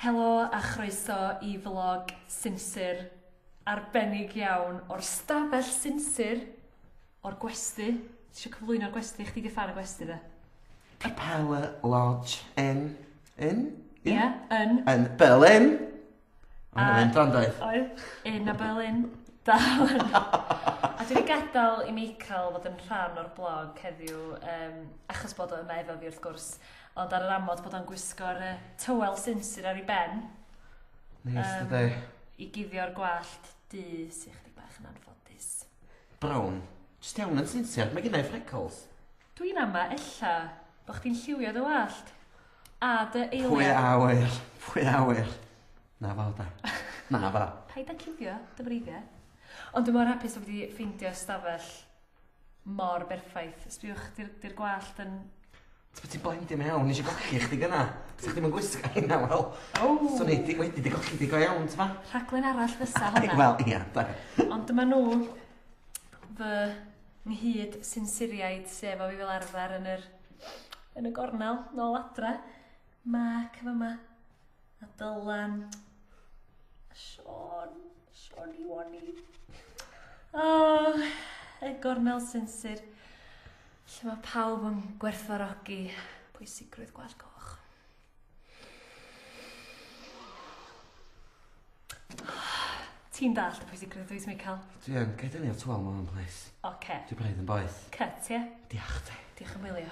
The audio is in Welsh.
Helo a chroeso i flog Sinsir arbennig iawn o'r stafell Sinsir o'r gwesty. Ti isio cyflwyno'r gwesty? Chdi 'di ffan y gwesty de? Capella Lodge yn... yn? Ia, yn. Yn Berlin! Oedd hwnna'n mynd dda doedd? Oedd, yn a Berlin. Da hwn. A dwi wedi gadael i Michael fod yn rhan o'r blog heddiw, um, achos bod o yma efo fi wrth gwrs. Ond ar yr amod bod o'n gwisgo'r uh, tywel sinsir ar ei ben. Neis, um, dydy. I guddio'r gwallt du sy'n chdi bach yn anffodus. Brown, jyst iawn yn sinsir, mae gyda'i freckles. Dwi'n ama, ella, bod chdi'n lliwio dy wallt. A dy eiliad. Pwy awyr, pwy awyr. Na fo, da. Na fo. Paid â cuddio, dy freiddiau. Ond dwi'n mor hapus o wedi ffeindio stafell mor berffaith. Sbiwch, di'r gwallt yn Ti be ti'n blindin iawn, nes i golli chdi gynna. Sa chdi'm yn gwisgo hynna wel. Ww! Swn i di wedi di golli di go iawn t'mo? Rhaglen arall fysa honna. Wel ia da. Ond dyma nhw fy nghyd sinsiriaid sef o fi fel arfer yn yr yn y gornel nôl adre. Mark yn fama. A Dylan. A Sean. Sean i Wani. O, y gornel sinsir. Lle mae pawb yn gwerthfarogi pwysigrwydd gwallt coch. Ti'n dallt y pwysigrwydd dwi wedi cael? Dwi yn, gael dynnu o twal mam, please. Oce. Dwi braidd yn boeth. Cut, ie? Diolch te. Diolch yn wylio.